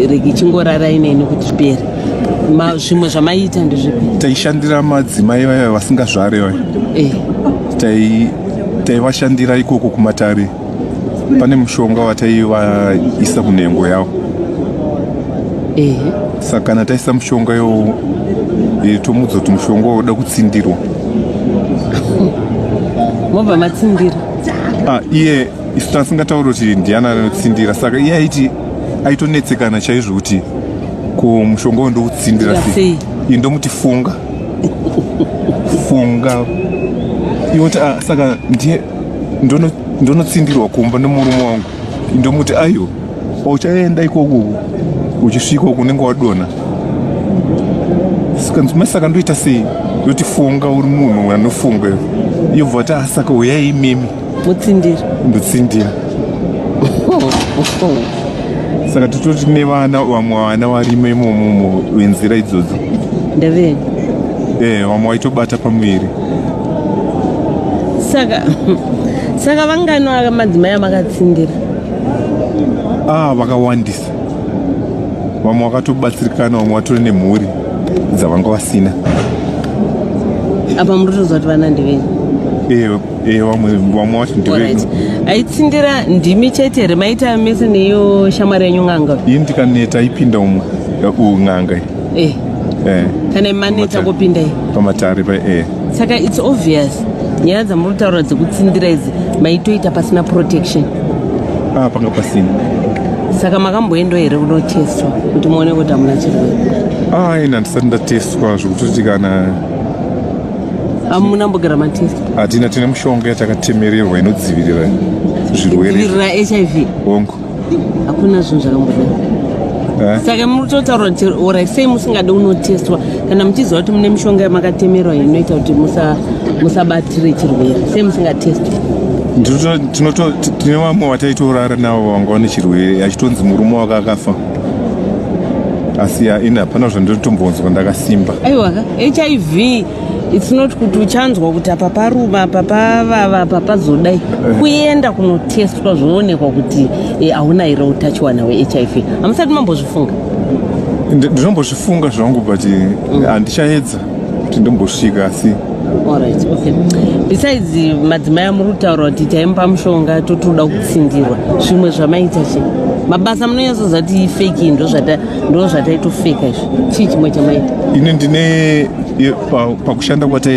richingorara ineni kuti zvipere zvimwe zvamaiita ndezvipi taishandira madzimai vaya vasingazvare vaya eh. taivashandira tai ikoko kumatare pane mushonga wataivaisa kunhengo yavo eh. saka kana taisa mushonga iwo eh, tomudza kuti mushonga woda kutsindirwa mobva matsindira ah, iye isu tasingatauri kuti ndiana anotsindira saka iye aiti aitonetsekana chaizvo kuti ko mushonga wo ndoutsindira sei iyi ndomuti funga funga ioti ah, saka ndiye ndonotsindirwa kumba nemurume wangu ndomuti ayo uchaenda ikoko uchisvika uku unenge wadona saka ndoita sei yoti funga uri munhu anofunga yobva ti asaka ah, uyai imimi mutsindira mutsindira saka tototi nevana vamwe vana varimo imomomo venzira idzodzo ndevei ee eh, vamwe vaitobata pamuviri saka saka vangani vaka madzimai amakatsindira ah vakawandisa vamwe vakatobatsirikana vamwe vatori nemhuri dzavanga vasina apa muri kutoziva kuti vana ndevei ee eh, Eh, vamwe vamwe wacho ndiveight aitsindira ndimi chete here maita mese neiyo shamwari yenyu n'anga iyi ndikaneta ipinda umwe eh, n'anga iyi eh. eh. kana imaneta kupinda iyi pamatare pa e saka its obvious nyaya dzamuri kutaura dzekutsindira idzi maitoita pasina protection ah, panga pasina saka makamboendo here kunotestwa kuti muone kuti hamuna chirwere aina ah, ndisati ndatestwa zvekutoti kana hamuna mbogara matest hatina tine mushonga yatakatemererwa inodzivirira zvirweredzivirira hiv hongu hakuna zvinhu zvakamboda eh? saka mutotaura kuti orai sei musingade unotestwa kana muchiziva kuti mune mishonga yamakatemerwa inoita kuti musabatire chirwere sei musingatestwa tine vamwe vataitorara navo vanga vane chirwere achitonzi murume wake akafa asi ya ini hapana zvandiri tombonzwa ndakasimba aiwa ka hiv its not kuti uchanzwa kuti apa paruma apa pavava apa pazodai eh. kuenda kunotestwa zvoonekwa kuti eh, hauna here utachiwana wehiv hamusati mambozvifunga ndinombozvifunga zvangu but eh, mm. handichaedza kuti ndombosvika asi Alright, okay. Besides madzimai amuri kutaura kuti taimupa mushonga totoda kutsindirwa zvimwe zvamaita che mabasa munonyatsoziva kuti ifeki ndo zvata- ndo zvataitofeka izvi chii chimwe chamaita ini ndine ye- pa- pakushanda kwataita